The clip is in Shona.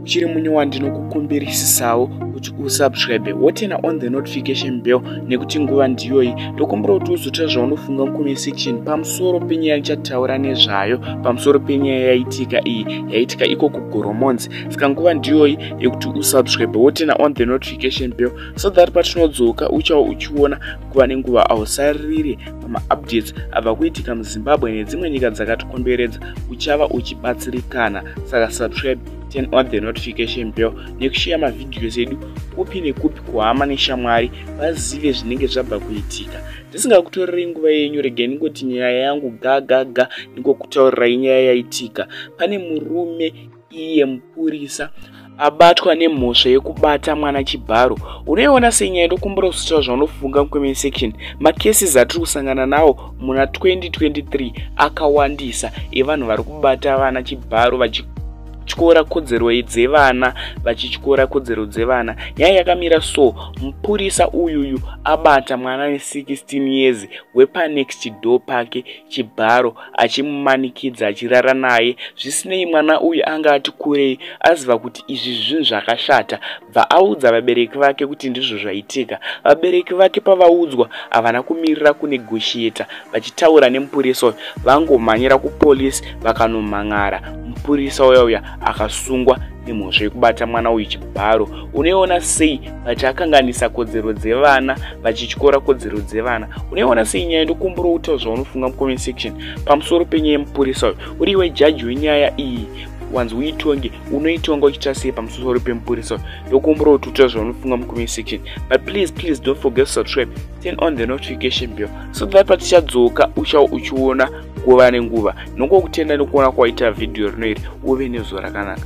uchiri munyuwa ndinokukumbirisisawo kuti usubscribe wotena on the notification bell nekuti nguva ndiyoyi ndokumbira kuti uzotaura zvaunofunga mucomment section pamusoro penyaya ndichataura nezvayo pamusoro penyaya yaitika iyi yaitika iko kugoromonzi saka nguva ndiyoyi yekuti usubscribe wotena on the notification bell so that patinodzoka uchava uchiona nguva nenguva hausaririre pamaupdates abva kuitika muzimbabwe nedzimwe nyika dzakatikomberedza uchava uchibatsirikana saka subscribe turn on the notification bell nekusheya mavhidhios edu kupi nekupi kuhama neshamwari vazive zvinenge zvabva kuitika ndisingakutorerei nguva yenyu regai ningoti nyaya yangu gagaga ningokutaurirai nyaya yaitika pane murume iye mupurisa abatwa nemhosva yekubata mwana chibharo unoiona senyaya ndokumbura kuzotaura zvaunofunga mucomment section macases atiri kusangana nawo muna 2023 akawandisa evanhu vari kubata vana chibharo vachi vachityora kodzero dzevana vachityora kodzero dzevana nyaya yakamira so mupurisa uyuyu abata mwana ne 16 years wepanext door pake chibharo achimumanikidza achirara naye zvisinei mwana uyu anga ati kurei aziva kuti izvi zvinhu zvakashata bva audza vabereki vake kuti ndizvo zvaitika vabereki vake pavaudzwa havana kumirira kunegoshiyeta vachitaura nemupurisa uyo vangomhanyira kupolisi vakanomhan'ara mupurisa uya uya akasungwa nemhosva yekubata mwana uyu chibharo unoiona sei vati akanganisa kodzero dzevana vachityora kodzero dzevana unoiona sei nyaya ndokumbura kutaura zvaunofunga mucomment section pamusoro penyaya yemupurisa uyu uri iwe jaji wenyaya iyi wanzi uitonge unoitonga uchiita sei pamusoro pemupurisa uyu ndokumbura kuti utaura zvaunofunga mucomment section but please please don't forget to subscribe turn on the notification bell so that patichadzoka uchau uchiona kuva nenguva nongokutenda nekuona kwaita vhidhiyo rino iri uve nezuva rakanaka